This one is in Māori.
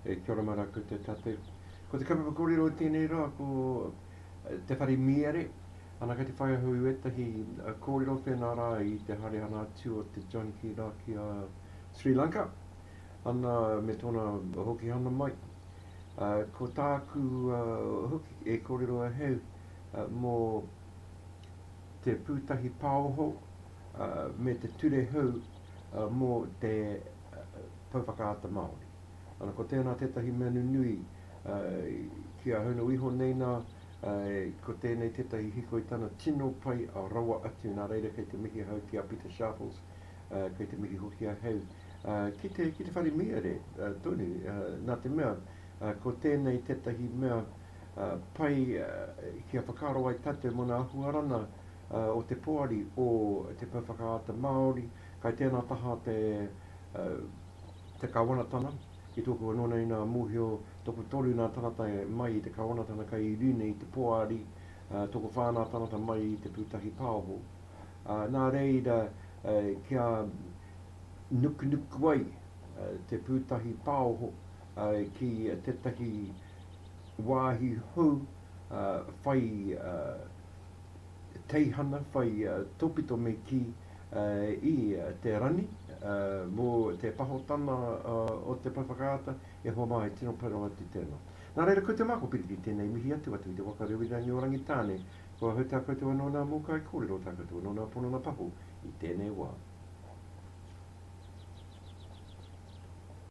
E kia ora mara koutou tātou. Ko te kaupapa kōrero i tēnei rā ko eh, te whare miere. Ana kei te whai ahu i wētahi eh, kōrero whēnā rā i te haere ana atu o te John Key rā ki a Sri Lanka. Ana me tōna hoki hana mai. Uh, ko tāku uh, hoki e kōrero aheu uh, mō te pūtahi pāoho me te ture hou mō te Pou Whakaata Māori. Ana, ko tēnā tētahi mea nunui ki a Hono iho nei nā, ko tēnei tētahi hikoi tana tino pai rawa atu, nā reira kei te mihi ahau ki a Pita Sharples, kei te mihi hoki ahau ki te whare mīare tonu, nā te mea ko tēnei tētahi mea, pai kia whakaaro ai tatou mona ahuarana o te poari o Te Pou Whakaata Māori, kai tēnā taha te te Kawanatana, ki tōku anō nei nā mōhio tokotoru nā tangata mai i te Kawanatana kai i rine i te poari, tokowhā nā tangata mai i te pūtahi paoho. Nā reira kia nukunuku ai te pūtahi paoho ki tētahi wāhi hou whai teihana, whai tōpito me kī i te rangi mō te pahotana o te pae whakaata, e hoa mā, e tino pai rawa atu tēnā. Nā reira, ko te mā, ko Piripi tēnei mihi atu, atu i te waka Rewirangi o Rangitāne, kua ahau tā koutou anō nā mō kai kōrero, tā koutou anō nā pono na paho i tēnei wā.